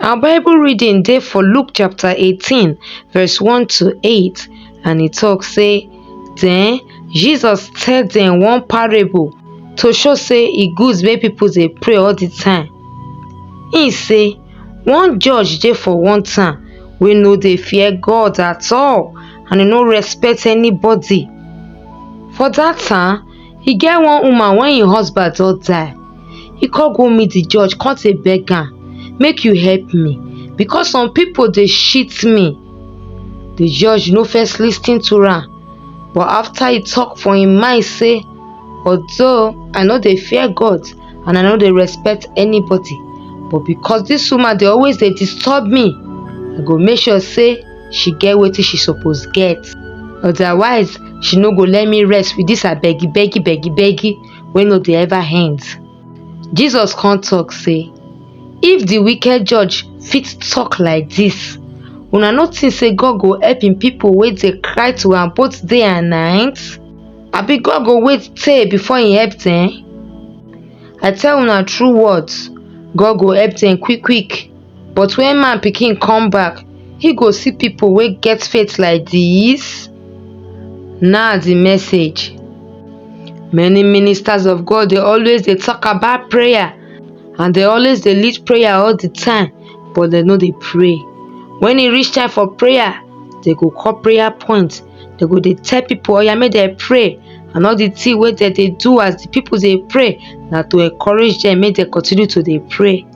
Our Bible reading dey for Luke chapter 18, verse 1 to 8, and e talk say, Then Jesus tell them one parable to show say e good make people dey pray all the time. He say, One judge dey for one town wey no dey fear God at all and e no respect anybody. For that town, e get one woman wey im husband don die. he come go meet the judge come dey beg am make you help me because some people dey shit me the judge no first lis ten to am but after he talk for him mind say although i no dey fear god and i no dey respect anybody but because this woman dey always dey disturb me i go make sure say she get wetin she suppose get otherwise she no go let me rest with this her beggy beggy beggy beggy wey no dey ever end. Jesus come talk say, If the wicked judge fit talk like this, una no think say God go help im people wey dey cry to am both day and night? Abi God go wait tey before im help dem? I tell una true words, God go help dem quick quick. But when man pikin come back, he go see people wey get faith like this? Na the message. Many ministers of God dey always dey talk about prayer and dey always dey lead prayer all the time but dem no dey pray. When e reach time for prayer, dey go call prayer point, dey go dey tell people oya make dem pray and all the thing wey dem dey do as the people dey pray na to encourage dem make dem continue to dey pray.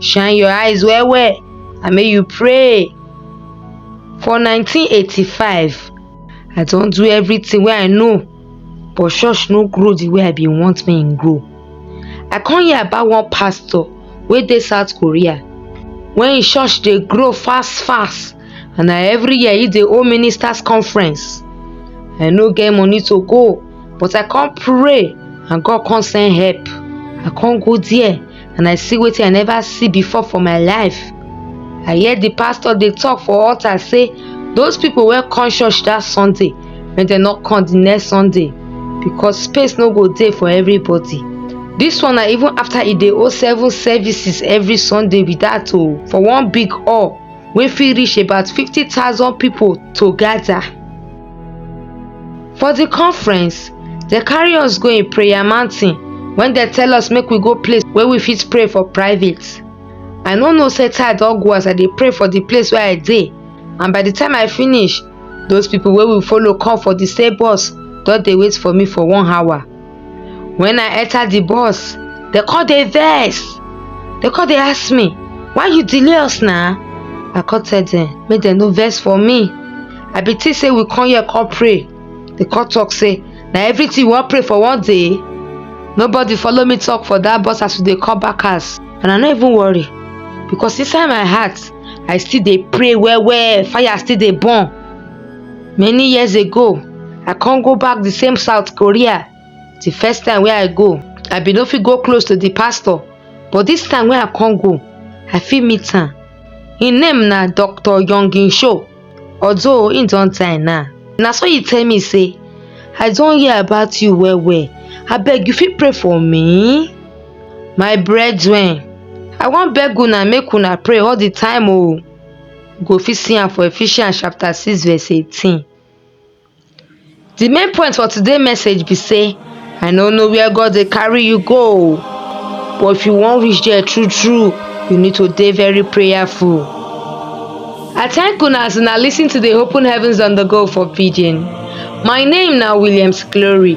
Shine your eyes well well and make you pray. For 1985, I don do everything wey I know but church no grow the way I bin want make e grow. I come hear about one pastor wey dey South Korea when im church dey grow fast fast and na every year e dey hold ministers conference. I no get money to go but I come pray and God come send help. I come go there and I see wetin I never see before for my life. I hear the pastor dey talk for altar say those people wey come church that Sunday make dem no come the next Sunday because space no go dey for everybody. This one na even after e dey hold seven services every Sunday be that o for one big hall wey fit reach about fifty thousand people to gather. For the conference, they carry us go a prayer mountain when they tell us make we go place where we fit pray for private. I no know say I don go as I dey pray for the place where I dey and by the time I finish, those people wey we follow come for the same bus don dey wait for me for one hour. when i enter the bus they call dey vex they call dey ask me why you delay us na i come tell them make dem no vex for me i be think say we come here come pray they come talk say na everything we wan pray for one day nobody follow me talk for that bus as we dey come back house and i no even worry because inside my heart i still dey pray well well fire still dey burn many years ago I come go back the same South Korea the first time wey I go I bin no fit go close to the pastor but this time wey I come go I fit meet am him name na Doctor Young In Sho although him don die now na so he tell me say I don hear about you well well abeg you fit pray for me my brethren I wan beg una make una pray all the time oo You go fit see am for Ephesians chapter 6 verse 18. The main point for today message be say I no know where God dey carry you go but if you wan reach there true true you need to dey very prayerful. I thank una as una lis ten to the Open Heavens on the Go for Pidgin. My name na Williams Glory.